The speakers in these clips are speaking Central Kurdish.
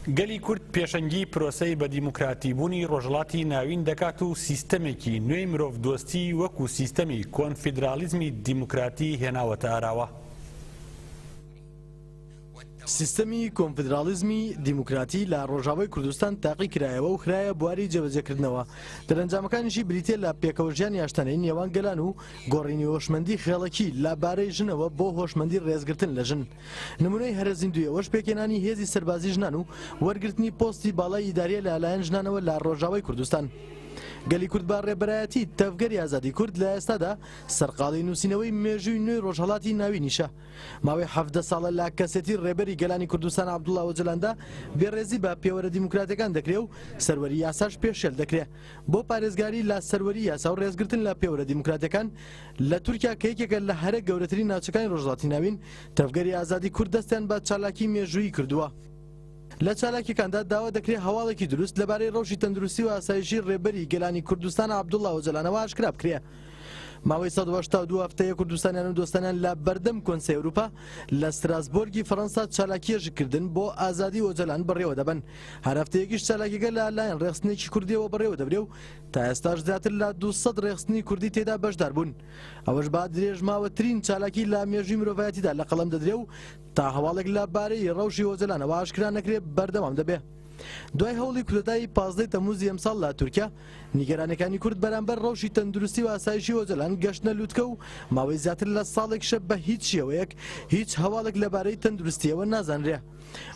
گەلی کورد پێشەنگی پرۆسەی بە دیموکراتیبوونی ڕۆژهەڵاتی ناوین دەکات و سیستەمێکی نوێی مرۆڤ دۆستی وەکو سیستەمی کۆنفیدراڵیزمی دیموکراتی هێناوەتە ئاراوە. سیستەمی کۆنفیدراڵیزمی دیموکراتی لە ڕۆژاوای کوردستان تاقی کرایەوە و خرایە بواری جێبەجێکردنەوە، دەرەنجامەکانیشی بریتیە لە پێکەوەژیانی ئاشتەنەی نێوان گەلان و گۆڕینی هۆشمەندی خێڵەکی لە بارەی ژنەوە بۆ هۆشمەندی ڕێزگرتن لە ژن. نمونەی هەرە زیندوی ئەوەش پێکهێنانی هێزی سەربازی ژنان و وەرگرتنی پۆستی باڵای ئیداریە لە لایەن ژنانەوە لە ڕۆژاوای کوردستان. گەلی کورد بە ڕێبەرایەتی تەڤگەری ئازادی کورد لە ئێستادا سەرقاڵی نووسینەوەی مێژووی نوێی ڕۆژهەڵاتی ناوینیشە ماوەی حەڤدە ساڵە لە کەسێتی ڕێبەری گەلانی کوردستان عەبدوڵا ئۆجەلاندا بێڕێزی بە پێوەرە دیموکراتەکان دەکرێ و سەروەری یاساش پێشێل دەکرێ بۆ پارێزگاری لە سەروەری یاسا و ڕێزگرتن لە پێوەرە دیموکراتیەکان لە تورکیا کە یەکێکە لە هەرە گەورەترین ناوچەکانی ڕۆژهەڵاتی ناوین، تەڤگەری ئازادی کورد دەستیان بە چالاکی مێژوویی کردووە. لە چالاکیەکاندا داوا دەکرێ هەواڵێکی دروست لەبارەی ڕەوشی تەندروستی و ئاسایشی ڕێبەری گەلانی کوردستان عەبدوڵا ئۆجەلانەوە ئاشکرا بکرێ. ماوەی سەد و هەشتا و دوو هەفتەیە کوردستانیان و دۆستانیان لە بەردەم کۆنسەی ئەوروپا لە ستراسبۆرگی فەرەنسا چالاکیەژکردن بۆ ئازادی ئۆجەلان بەڕێوە دەبەن. هەر هەفتەیەکیش چالاکیەکە لە لایەن ڕێخستنێکی کوردیەوە بەڕێوە دەبرێ و تا ئێستاش زیاتر لە 200 ڕێخستنی کوردی تێدا بەشدار بوون ئەوەش با درێژماوەترین چالاکی لە مێژوی مرۆڤایەتیدا لە قەڵم دەدرێ و تا هەواڵێک لە بارەی ڕەوشی هۆزەلانەوە ئاشکرا نەکرێ بەردەوام دەبێ. دوای هەوڵی کودەتای پازدەی تەموزی ئەمساڵ لە تورکیا نیگەرانەکانی کورد بەرامبەر ڕەوشی تەندروستی و ئاسایشی ئۆجەلان گەشتنە لوتکە و ماوەی زیاتر لە ساڵێکشە بە هیچ شێوەیەک هیچ هەواڵێک لەبارەی تەندروستیەوە نازانرێ.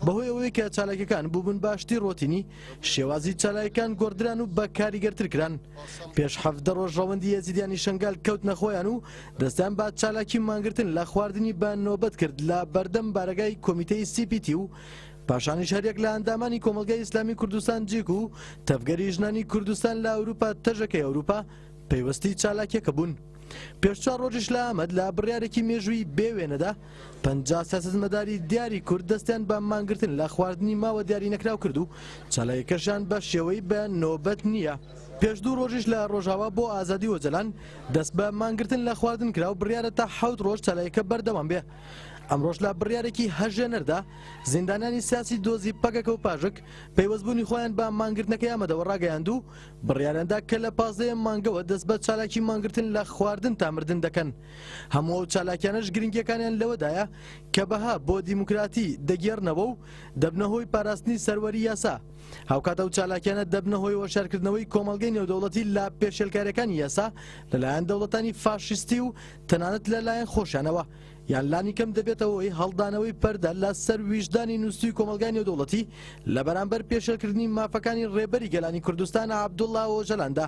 بەهۆی ئەوەی کە چالاکەکان بووبن باشتری ڕۆتینی شێوازی چالایکان گۆڕدران و بە کاریگەرتر کران پێش حەفدە ڕۆژ ڕەوەندی یەزیدیانی شنگال کەوت نەخۆیان و دەستیان با چالاکی مانگرتن لە خواردنی بە نۆبەت کرد لە بەردەم بارەگای کۆمیتەی سیپیتی و پاشانیش هەریەک لە ئەندامانی کۆمەلگای ئیسلامی کوردستان جیک و تەڤگەری ژنانی کوردستان لە ئەوروپا تەژەکەی ئەوروپا پەیوەستی چالاکیەکە بوون. پێش چوار ڕۆژیش لە ئامەد لە بڕیارێکی مێژووی بێ وێنەدا پەنجا سیاسەتمەداری دیاری کورد دەستیان بە مانگرتن لە خواردنی ماوە دیاری نەکراو کرد و چالاکیەکەشیان بە شێوەی بە نۆبەت نییە. پێش دوو ڕۆژیش لە ڕۆژاوا بۆ ئازادی ئۆجەلان دەست بە مانگرتن لە خواردن کرا و بڕیارە تا حەوت ڕۆژ چالاکیەکە بەردەوام بێ. ئەمڕۆش لە بڕیارێکی هەژێنەردا زیندانیانی سیاسی دۆزی پەکەکە و پاژک پەیوەستبوونی خۆیان بە مانگرتنەکەی ئامەدەوە ڕاگەیاند و بڕیاریاندا کە لە پازدەیەم مانگەوە دەست بە چالاکی مانگرتن لە خواردن تا مردن دەکەن. هەموو ئەو چالاکیانەش گرنگیەکانیان لەوەدایە کە بەها بۆ دیموکراتی دەگێڕنەوە و دەبنە هۆی پاراستنی سەروەری یاسا هاوکات ئەو چالاکیانە دەبنە هۆی وەشارکردنەوەی کۆمەڵگەی نێودەوڵەتی لا پێشێلکارەکانی یاسا لەلایەن دەوڵەتانی فاشستی و تەنانەت لەلایەن خۆشانەوە یان لانی کەم دەبێتەوەی هەڵدانەوەی پەردە لە سەر ویژدانی نووسوی کۆمەلگای نێودوڵەتی لە بەرامبەر پێشلکردنی مافەکانی ڕێبەری گەلانی کوردستان عبدوڵلا ئۆجەلاندا.